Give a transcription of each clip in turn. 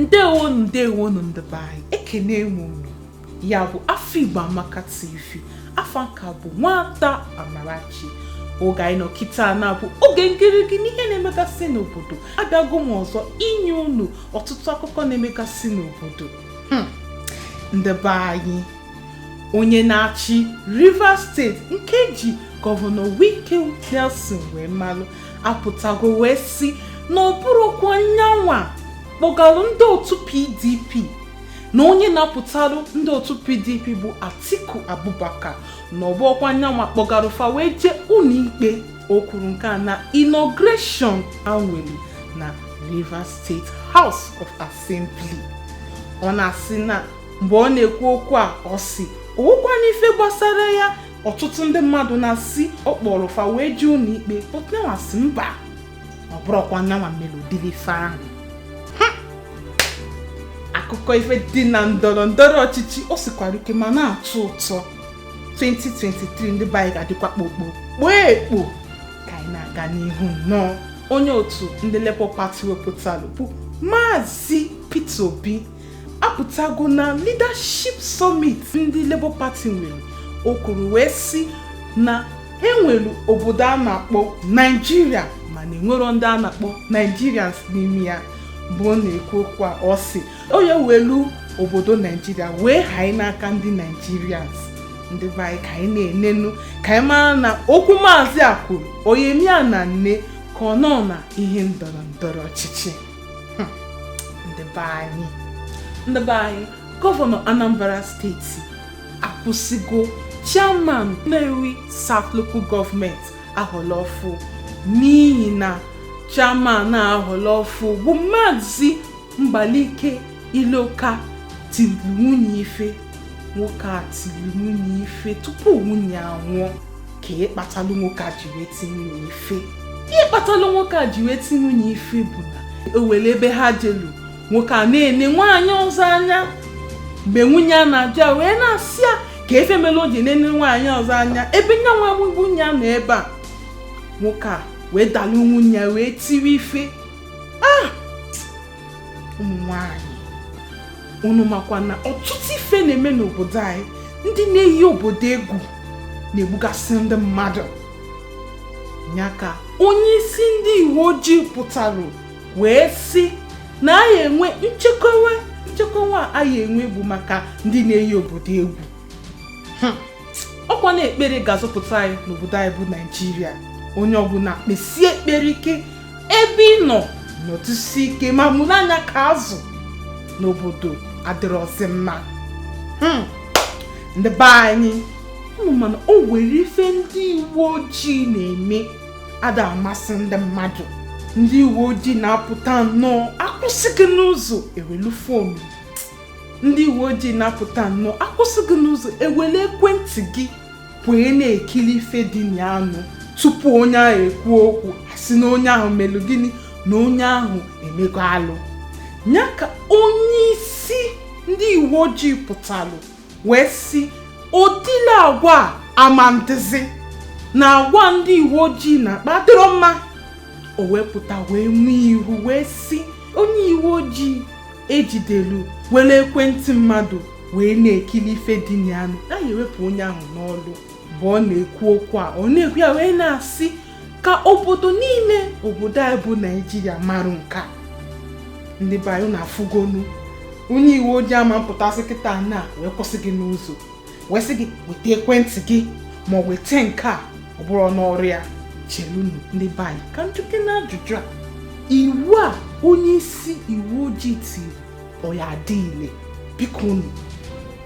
ndewonu ndewonu ndị be anyị ekene m unu ya bụ afọ igbo amaka tv afa m ka bụ nwada amarachi oge anyị nọ kịta na-abụ oge ngịrịgị n'ihe na-emegasị n'obodo abịago m ọzọ inye unu ọtụtụ akụkọ na-emegasị n'obodo hmm. ndị be anyị onye na-achị rivers steeti nke e ji gọvanọ wike nelson wee malụ apụtago wee si na ọ bụrọkwa nyanwa kpọgalụ ndị otu pdp na onye na-apụtarụ ndị otu pdp bụ atiku abubakar na ọ bụrọkwa nyanwa kpọgara fa wee jee ụlọikpe o kwuru nke a na inauguration e nwelụ na rivers state house of assembly ọ na-asị na mgbe ọ na-ekwu okwu a ọ sị o nwekwanụ ife gbasara ya ọtụtụ ndị mmadụ na-asị ọ kpọrọ fa wee jee ụlọikpe but na ọ sị mba ọ bụrọkwa nyanwa mere ụdịrị ife ahụ akụkọ ife dị na ndọrọ ndọrọ ọchịchị o sikwara ike ma na-atọ ụtọ 2023 ndị be anyị ga-adịkwa kpokpo kpoo ekpo ka anyị na-aga n'ihu nnọọ onye otu ndị Labour Party wepụtara bụ Maazị Peter Obi apụtago na leadership summit ndị Labour Party nwere o kwuru wee si na e nwere obodo a na-akpọ Naijiria mana e nwerọ ndị a na-akpọ Nigerians n'ime ya mgbe ọ na-ekwu okwu a ọ sị ọ ya-ewelu obodo Naijiria wee hanye n'aka ndị Nigerians ndị be anyị ka anyị na-enenu ka anyị mara na okwu maazị a kwuru ọ ya-eme ya na nne ka ọ nọ na ihe ndọrọ ndọrọ ọchịchị ndị be anyị ndị be anyị gọvanọ Anambra steeti akwụsịgo chairman Nnewi South Local Government a họlụ ọfụ n'ihi na chairman a họlụ ọfụ bụ Maazị Mbalike Iloka tiri nwunye ife nwoke a tiri nwunye ife tupu nwunye anwụọ kee ihe kpatalụ nwoke a ji wee tie nwunye ife ihe kpatalụ nwoke a ji wee tie nwunye ife bụ na o nwere ebe ha jelu nwoke a na-ene nwaanyị ọzọ anya mgbe nwunye ya na-ajụ ya wee na-asị ya kee ife mere o ji na-ene nwaanyị ọzọ anya ebe nya nwa bụ nwunye ya nọ ebe a nwoke a wee dalụ nwunye ya wee tiwe ife ụmụ nwanyị unu makwa na ọtụtụ ife na-eme n'obodo anyị ndị na-eyi obodo egwu na-egbugasị ndị mmadụ nya ka onye isi ndị uwe ojii pụtara wee sị na anyị enwe nchekwa nchekwa anyị enwe bụ maka ndị na-eyi obodo egwu ọkwa na ekpere ga-azọpụta anyị n'obodo anyị bụ naijiria onye ọbụla kpesie ekpere ike ebe ị nọ nọtụsi ike ma mụrụ anya ka azụ na obodo adịrọzi mma hmm. ndị be anyị unu ma na o nwere ife ndị uwe ojii na-eme ada amasị ndị mmadụ ndị uwe ojii na-apụta nnọọ akwụsị gị n'ụzọ ewelu fonu ndị uwe ojii na-apụta nnọọ akwụsị gị n'ụzọ ewelu ekwentị gị wee na-ekili ife dị na anụ tupu onye ahụ ekwuo okwu a sị na onye ahụ melụ gịnị na onye ahụ emego alụ nya ka onye isi ndị uwe ojii pụtalụ wee sị o dile agwa a ama ndizi na agwa ndị uwe ojii na-akpa adịrọ mma o wee pụta wee nye iwu wee sị onye uwe ojii ejidelu welu ekwentị mmadụ wee na-ekili ife dị na anụ na a ya-ewepụ onye ahụ n'ọlụ mgbe ọ na-ekwu okwu a ọ na-ekwu ya wee na-asị ka obodo niile obodo anyị bụ naijiria marụ nka ndị be anyị unu afụgonu onye uwe ojii ama mpụtazi kịta na wee kwụsị gị n'ụzọ wee sị gị weta ekwentị gị ma o weta nke a ọ bụrụ ọnụ ọrụ ya chelunu ndị be anyị ka m jụkene ajụjụ a iwu a onye isi uwe ojii tili ọ ya-adị ile biko unu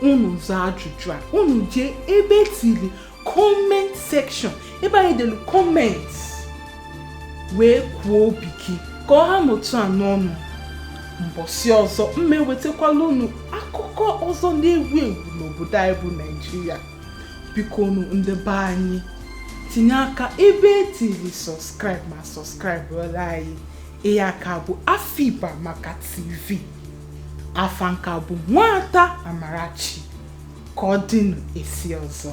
unu zaa ajụjụ a unu jee ebe etili comment section ebe anyị delu comment wee kwuo obi gị ka ọ ha n'otu a n'ọnụ mbọsị ọzọ m ewetakwalụ unu akụkọ ọzọ na-ewu ewu n'obodo anyị bụ naijiria biko unu ndị be anyị tinye aka ebe edelu subscribe ma subscribe-ọlụ anyị ihe a ka bụ afiba maka tv afa m ka bụ nwada amarachi ka ọ dịnụ esi ọzọ